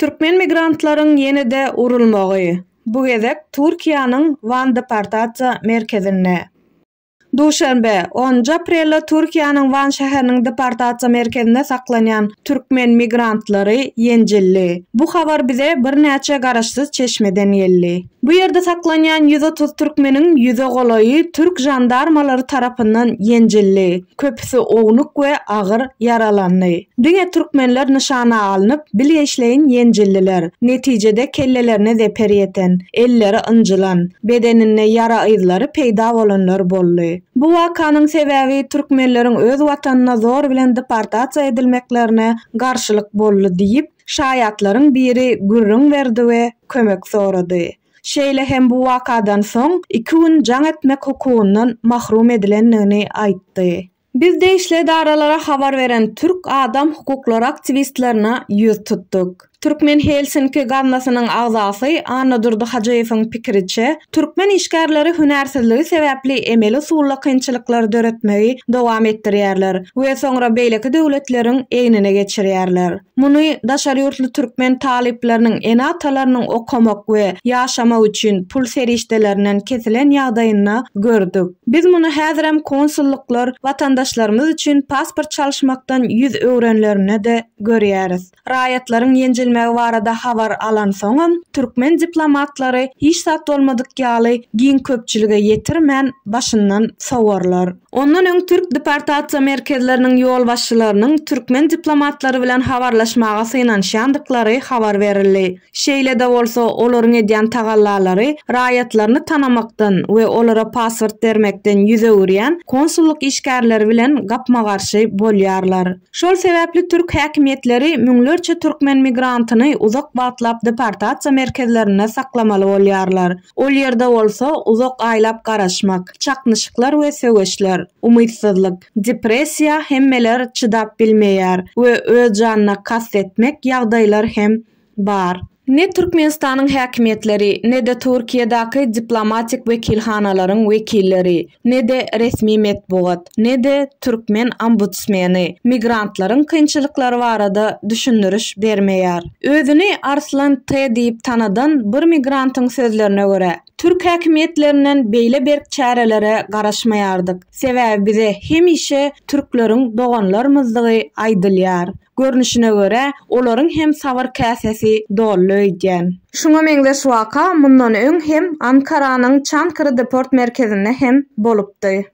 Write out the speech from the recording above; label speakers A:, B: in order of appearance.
A: Türkmen migrantlaryň ýene-de urulmagy, bu gezek Türkiýäniň Wan deportasiýa merkezinde. Duşenbe, onunjy aprelde Türkiýäniň Wan şäheriniň deportasiýa merkezinde saklanýan türkmen migrantlary ýenjildi. Bu habar bize birnäçe garaşsyz çeşmeden geldi. Bu ýerde saklanýan ýüz otuz türkmeniň ýüze golaýy türk žandarmalary tarapyndan ýenjildi, köpüsi ownuk we agyr ýaralandy. Diňe türkmenler nyşana alnyp, bilgeşleýin ýenjildiler. Netijede kellelerine zeper ýeten, elleri ynjylan, bedeninde ýara yzlary peýda bolanlar boldy. Bu wakanyň sebäbi türkmenleriň öz watanyna zor bilen deportasiýa edilmeklerine garşylyk boldy diýip, Şaýatlaryň biri gürrüň berdi we kömek sorady. Şeýle hem bu wakadan soň iki gün jaň etmek hukugyndan mahrum edilendigini aýtdy. Biz degişli edaralara habar beren türk adam hukuklary aktiwistlerine ýüz tutduk. Türkmen Helsinki gaznasynyň agzasy Annadurdy Hajyýewiň pikiriçe, Türkmen işgärleri hünärsizligi sebäpli emeli usulda kynçylyklary döretmegi dowam etdirýärler we soňra beýleki döwletleriň egnine geçirýärler. Muny daşary ýurtly türkmen talyplarynyň ene-atalarynyň okamak we ýaşamak üçin pul serişdelerinden kesilen ýagdaýynda gördük. Biz muny häzirem konsullyklar watandaşlarymyz üçin pasport çalyşmakdan ýüz öwrenlerinde-de görýäris. Raýatlaryň ýenjilmegi barada habar alansoňam, türkmen diplomatlary hiç zat bolmadyk ýaly giň köpçülige ýetirmän, başyndan sowarlar. Ondan öň türk deportasiýa merkezleriniň ýolbaşçylarynyň türkmen diplomatlary bilen habarlaşmaga synanyşýandyklary habar berildi. Şeýle-de bolsa, olaryň edýän tagallalary raýatlaryny tanamakdan we olara pasport bermekden ýüz öwürýän konsullyk işgärleri bilen gapma-garşy bolýarlar. Şol sebäpli türk häkimiýetleri müňlerçe türkmen migrantyny uzak wagtlap deportasiýa merkezlerinde saklamaly bolýarlar. Ol ýerde bolsa uzak aýlap garaşmak, çaknyşyklar we söweşler, umytsyzlyk, depressiýa hemmeler çydap bilmeýär we öz janyna kast etmek ýagdaýlar hem bar. Ne Türkmenistanyň häkimiýetleri, ne-de Türkiýedäki diplomatik wekilhanalaryň wekilleri, ne-de resmi metbugat, ne-de türkmen ombudsmeni migrantlaryň kynçylyklary barada düşündiriş bermeýär. Özüni Arslan T. diýip tanadan bir migrantyň sözlerine görä, Türk häkimiýetlerinden beýle berk çärelere garaşmaýardyk. Sebäbi bize hemişe türkleriň doganlarymyzdygy aýdylýar. Görnüşine görä, olaryň hem sabyr käsesi dolly öýdýän. Şuňa meňzeş waka mundan öň hem Ankaranyň Çankry deport merkezinde hem bolupdy.